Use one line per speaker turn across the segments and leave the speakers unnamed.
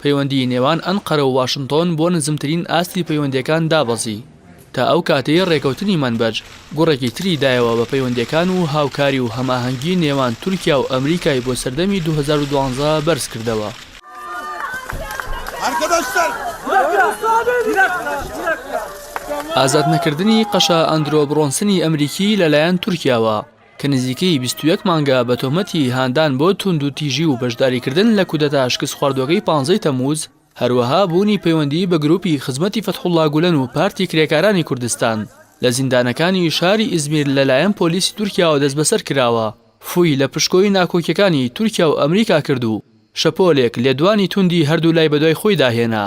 پەیوەندیی نێوان ئەنقەرە و واشنتۆن بۆ نزمترین ئاستی پەیوەندییەکان دابەزی، تا ئەو کاتەی رێکەوتنی مەنبەج گوڕێکی تری دایەوە بە پەیوەندییەکان و هاوکاری و هەماهەنگی نێوان تورکیا و ئەمریکای بۆ سەردەمی دوو هەزار و دوازدە بەرز کردەوە. ئازادنەکردنی قەشە ئەندرۆ برۆنسنی ئەمریکی لەلایەن تورکیاوە. کە نزیکەی بیست و یەک مانگە بە تۆمەتی هاندان بۆ توندوتیژی و بەشداریکردن لە کودەتا شکستخواردوەکەی پانزەی تەموز، هەروەها بوونی پەیوەندی بە گروپی خزمەتی فەتحوڵا گولەن و پارتی کرێکارانی کوردستان، لە زیندانەکانی شاری ئیزمیر لەلایەن پۆلیسی تورکیاوە دەستبەسەر کراوە. فوی لە پشکۆی ناکۆکیەکانی تورکیا و ئەمریکا کرد و شەپۆلێک لێدوانی توندی هەردوولای بەدوای خۆیدا هێنا.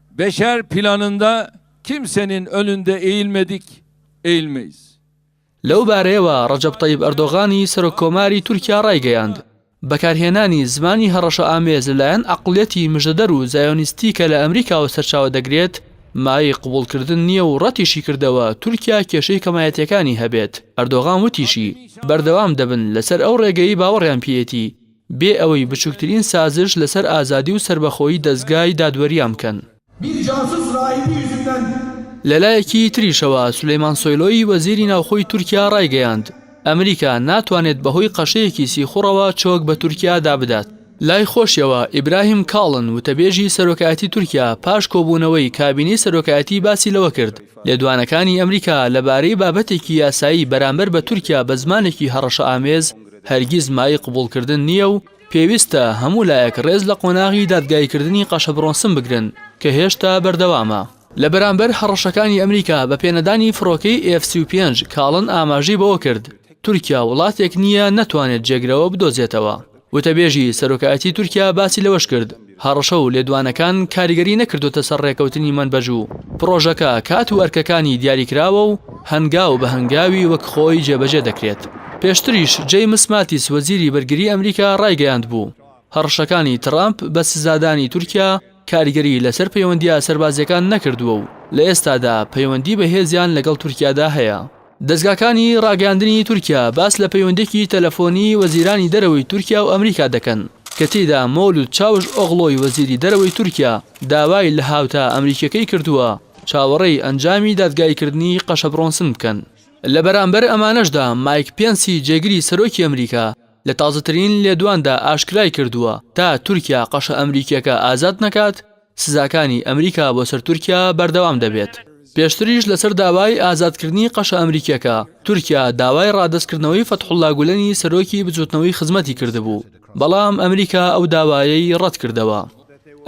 Beşer planında kimsenin önünde eğilmedik, eğilmeyiz. لەو
بارەیەوە ڕەجەب تەیب ئەردۆغانی سەرۆک کۆماری تورکیا ڕایگەیاند، بەکارهێنانی زمانی هەڕەشەئامێز لەلایەن عەقڵیەتی مژدەدەر و زایۆنیستی کە لە ئەمریکاوە سەرچاوە دەگرێت مایەی قبوڵکردن نییە و ڕەتیشی کردەوە تورکیا کێشەی کەمایەتیەکانی هەبێت ئەردۆغان وتیشی، بەردەوام دەبن لەسەر ئەو ڕێگەیەی باوەڕیان پێیەتی. بێ ئەوەی بچوکترین سازش لەسەر ئازادی و سەربەخۆیی دەزگای دادوەریان بکەن. لەلایەکی تریشەوە، سولەیمان سۆیلۆی وەزیری ناوخۆی تورکیا ڕایگەیاند، ئەمریکا ناتوانێت بەهۆی قەشەیەکی سیخوڕەوە چۆک بە تورکیادا بدات. لای خۆشیەوە، ئیبراهیم کاڵن، وتەبێژی سەرۆکایەتی تورکیا پاش کۆبوونەوەی کابینەی سەرۆکایەتی باسی لەوە کرد، لێدوانەکانی ئەمریکا لەبارەی بابەتێکی یاسایی بەرامبەر بە تورکیا بە زمانێکی هەڕەشەئامێز، هەرگیز مایەی قبوڵکردن نییە و پێویستە هەموو لایەک ڕێز لە قۆناغی دادگاییکردنی قەشەبڕۆنسم بگرن کە هێشتا بەردەوامە. لە بەرامبەر هەڕەشەکانی ئەمریکا بە پێنەدانی فڕۆکەی ئێف سی و پێنج، کاڵن ئاماژەی بەوە کرد، تورکیا وڵاتێک نییە نەتوانێت جێگرەوە بدۆزێتەوە. وتەبێژی سەرۆکایەتی تورکیا باسی لەوەش کرد، هەڕەشە و لێدوانەکان کاریگەری نەکردۆتە سەر ڕێکەوتنی مەنبەج و پڕۆژەکە کات و ئەرکەکانی دیاریکراوە و هەنگاو بە هەنگاوی وەک خۆی جێبەجێ دەکرێت. پێشتریش جەیمس ماتیس وەزیری بەرگری ئەمریکا ڕایگەیاندبوو، هەڕەشەکانی تڕامپ بە سزادانی تورکیا کاریگەری لەسەر پەیوەندییە سەربازییەکان نەکردووە و لە ئێستادا پەیوەندی بەهێزیان لەگەڵ تورکیادا هەیە. دەزگاکانی ڕاگەیاندنی تورکیا باس لە پەیوەندیەکی تەلەفۆنی وەزیرانی دەرەوەی تورکیا و ئەمریکا دەکەن کە تێیدا مەولود چاوش ئۆغڵۆی وەزیری دەرەوەی تورکیا داوای لە هاوتا ئەمریکیەکەی کردووە چاوەڕێی ئەنجامی دادگاییکردنی قەشەبڕۆنسن بکەن. لە بەرامبەر ئەمانەشدا مایک پێنسی جێگری سەرۆکی ئەمریکا لە تازەترین لێدواندا ئاشکرای کردووە تا تورکیا قەشە ئەمریکیەکە ئازاد نەکات، سزاکانی ئەمریکا بۆ سەر تورکیا بەردەوام دەبێت. پێشتریش لەسەر داوای ئازادکردنی قەشە ئەمریکییەکە، تورکیا داوای ڕادەستکردنەوەی فەتحوڵڵا گولەنی سەرۆکی بزووتنەوەی خزمەتی کردبوو، بەڵام ئەمریکا ئەو داوایەی ڕەتکردەوە.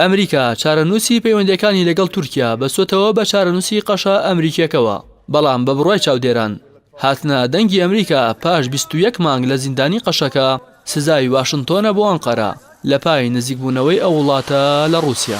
ئەمریکا چارەنووسی پەیوەندییەکانی لەگەڵ تورکیا بەستۆتەوە بە چارەنووسی قەشە ئەمریکییەکەوە، بەڵام بە بڕوای چاودێران، هاتنە دەنگی ئەمریکا پاش بیست و یەک مانگ لە زیندانی قەشەکە، سزای واشنتۆنە بۆ ئەنقەرە لە پای نزیکبوونەوەی ئەو وڵاتە لە ڕووسیا.